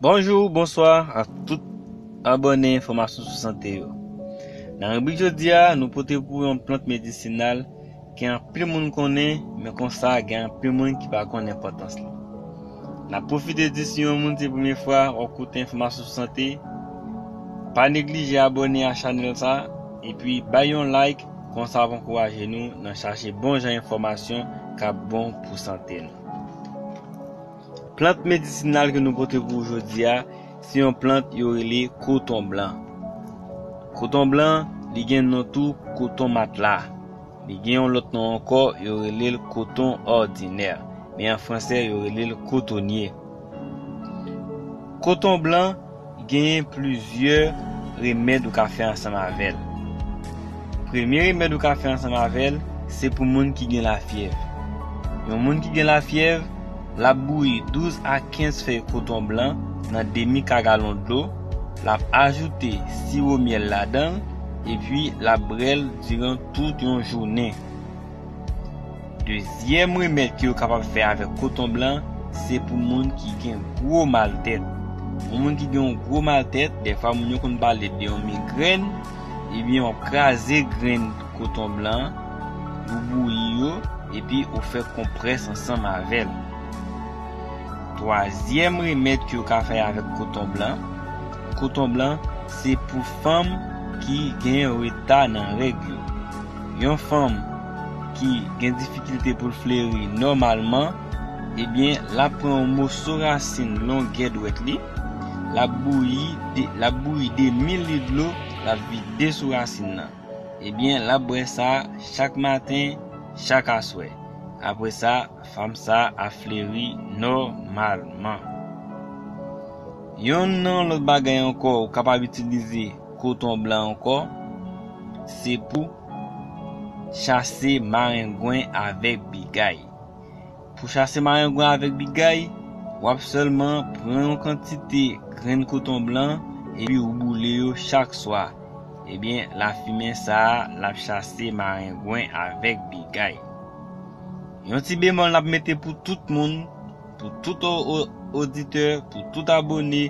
Bonjou, bonswa ak tout abòne enfòmasyon sou sante yo. Nan ribrik jodi a, nou pote pou yon plant medisinal ki anpil moun konnen, men konsa gen anpil moun ki pa konnen enpòtans li. Nan pwofite di si yon moun se premye fwa wap koute enfòmasyon sou sante, pa neglije abòne a chanèl sa, epi bay yon like konsa wap ankouraje nou nan chache bon jan enfòmasyon kap bon pou sante nou. Plant medisinal ke nou pote pou ou jodi a, se yon plant yo rele koton blan. Koton blan, li gen non tou koton matla. Li gen yon lòt non ankò, yo rele l koton òdinè. Men an franse yo rele l kotonye. Koton blan. Genyen plizyè remèd ou ka fè ansanm avè l. Premye remèd ou ka fè ansanm avè l se pou moun ki gen lafyèv. Yon moun ki gen lafyèv, l ap bouyi 12 a 15 fèy koton blan nan demi ka galon dlo, l ap ajoute siwo myèl ladan l, epi l ap brè l diran tout yon jounen. Dezyèm remèd ke yo kapab fè avèk koton blan se pou moun ki gen gwo mal tèt. Pou moun ki gen yon gwo mal tèt, dèfwa moun yo konn pale de yon migrèn, ebyen wap kraze grenn koton blan, ou bouyi yo, epi ou fè konprès ansanm avèl. Twazyèm remèd ke yo ka fè avèk koton blan, koton blan se pou fanm ki gen reta nan règ yo. yon fanm ki gen difikilte pou l fleri nòmalman, ebyen l ap pran yon moso rasin longè dwèt li, l ap bouyi, l ap bouyi 2 mil lit dlo, l ap vide sou rasin nan. Ebyen l ap bwè sa chak maten, chak aswè. Apre sa, fanm sa ap fleri nòmalman. Yon nan lòt bagay ankò ou kapab itilize. Koton blan ankò, se pou chase marengwen avèk bigay. Pou chase marengwen avèk bigay, w ap sèlman pran yon kantite grenn koton blan epi ou boule yo chak swa. Ebyen, lafimen sa a l ap chase marengwen avèk bigay. Yon ti bemòl n ap mete pou tout moun, Pou tout oditè, pou tout abone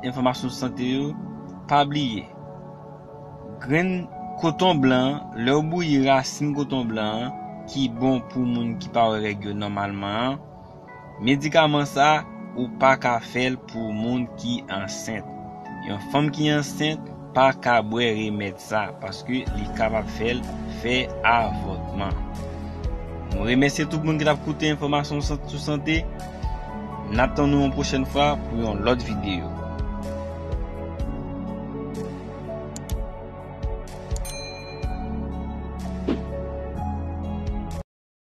enfòmasyon sante yo, pa bliye grenn koton blan an, lè ou bouyi rasin koton blan an ki bon pou moun ki pa wè règ yo nòmalman an, medikaman sa ou pa ka fè l pou moun ki ansent. Yon fanm ki ansent. Pa ka bwè remèd sa paske li kapab fè l fè avòtman. Mwen remèsye tout moun ki t ap koute enfòmasyon sant sou sante. N ap tann nou yon pwochèn fwa pou yon lòt videyo.